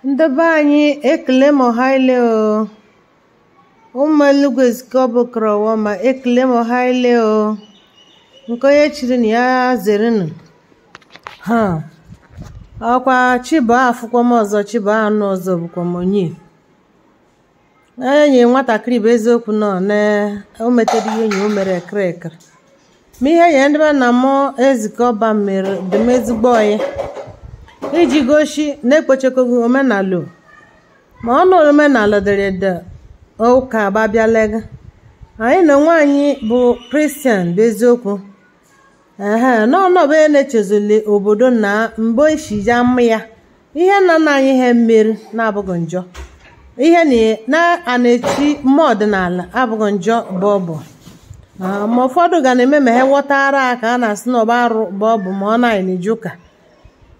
ndị be anyị ekele m ọha ile o ụmụ elugwu ezike ọ bụkara ọwa ma ekele m ọha ile o nke onye chiri nya zerenụ ha ọkwa chi bọọ afụkwa m ọzọ chi bọọ anụ ọzọ bụkwa m onye enyi nwatakịrị bụ eziokwu nọ na o metere ihe enyi o mere ekreka ma ihe ya ndị be nna m ezike ọba mere dị m ezigbo oyi iji gosi na ekpochekoghị omenala ma ọ nụrụ omenala dere de ụka abịalega anyị na onwe anyị bụ kristian bụ eziokwu ehe n'ọnọbụ ya na-echezili obodo na mgbe ishija mma ya ihe nna nna anyị ha mere na-abụghị njọ ihe na a na-echi ime ọdịnala abụghị njọ bụ ọbụ ma ụfọdụ ga na-eme ma ha ghọtara ka a na-asị na ọ bụ arụ bụ ọbụ ma ọ na-anyị na-eji ụka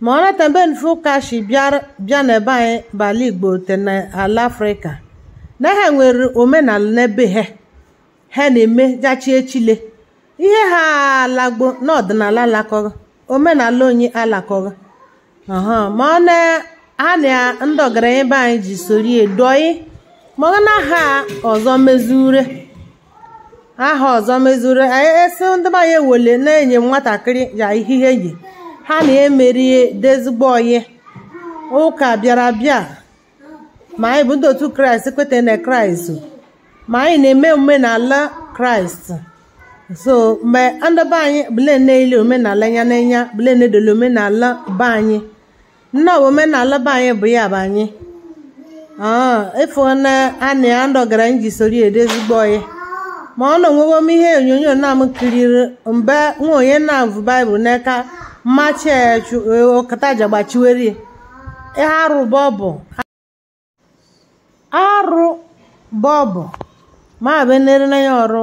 ma ọ nata mbe nfe ụka shi bịa n'ebe anyị bụ ala igbo te n'ala afrịka na ha nwere omenala n'ebe ha ha na-eme jachi echile ihe ha alagbo n'ọdịnala alakọghị omenala anyị alakọghị ma ọ na ha na ndị ọgaranya be anyị ji sori adị oyi ma ọ na ha ọzọ mezure aha ọzọ mezure anyị esi ndị be anyị ewele na-enye nwatakịrị ya ihe ihe yi ha na-emerie dị ezigbo oyi ụka bịara bịa ma anyị bụ ndị otu kraịst kweta na kraịst ma anyị na-eme omenala kraịst so mgbe ndị be anyị bụle na-ele omenala ya n'anya bụle na-edole omenala be anyị na ọ bụ omenala be anyị bụ ya bụ anyị ịfụ na anyị ndị ọgaranya ji soro ya adị ezigbo oyi ma ọ na-enwewo m ihe onyonyo na m kiriri mgbe nwa onye na-avụ baịbụl n'aka mmachi ọkataja gbachiwere ya arụ bọbụ arụ bọbụ ma benere na ya ọrụ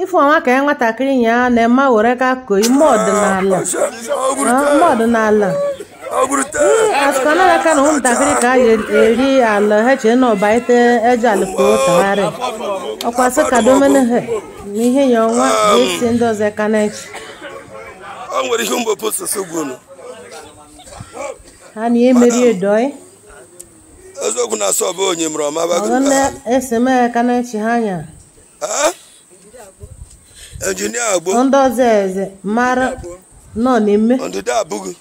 ife ọnwa ka ya nwatakịrị ya na-eme were ka ko ime ọdịnala ime ọdịnala asụkanaka na ụmụntakịrị ka a eri ala ha chee na ọba ite eji alụkpo tagharị ọkwa sị ka domene ha na ihe ya ọnwa ga-esi ndị ọzọ ka na-eche ha na ihe mere dị oyi eziokwu na asọ bụ onye mụrụ ọma bago ọgọnne eseme ka na-echi ha anya injinia agbo ndị ọzọ eze mara nọ n'ime ndịda abụghị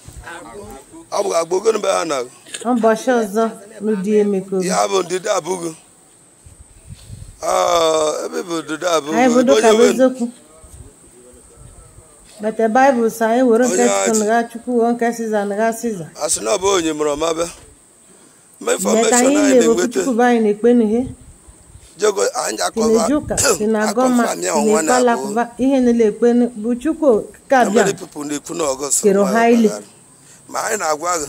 ọ bụ agbo gịnị mgbe ha na ụbọchị ọzọ n'ụdị emeko ya bụ ndịda abụghị Ah, ebe bụ duda bụ anyị bụ dụka bụ eziokwu bete baịbụl sị anyị were nke Onye chukwu nụgha chukwu were nke siza nụgha siza asị na ọ bụ onye mụrụ ọma bịa ma meta infọmeshọn anyị anyị na-ebe okwu na-enweta chukwu bụ anyị na-ekpe n'ihe jego anyị si akọwa na-eji ụka si na agọma akọfa si mịa na ọnwa ikpe na abụọ alakụba ihe niile ekpe nụ bụ chukwu ka na bịa many people na-ekwu na ọgọst Kero ọnwa ya highly. gbagara. ma anyị na-agwa gị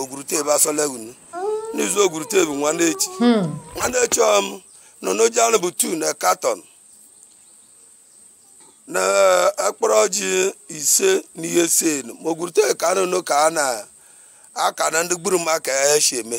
ogwurute bụ asọlegunu n'izu ogwurute bụ nwanne echi hmm. nwanne echi ọm nọ n'oji anụ bụ tu na katọn na akpọrọ ọjị ise na ihe ise ma ogwurute ka anụ ka a na-aka na ndị gburu maka ya esi eme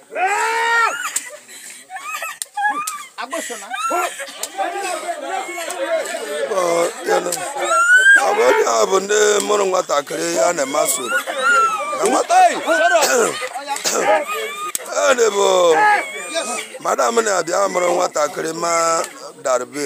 agbọsọla. ọ bụ onye a bụ ndị mụrụ nwatakịrị ya na-emasị na nwata ọ bụ madam na-abịa mụrụ nwatakịrị ma darbe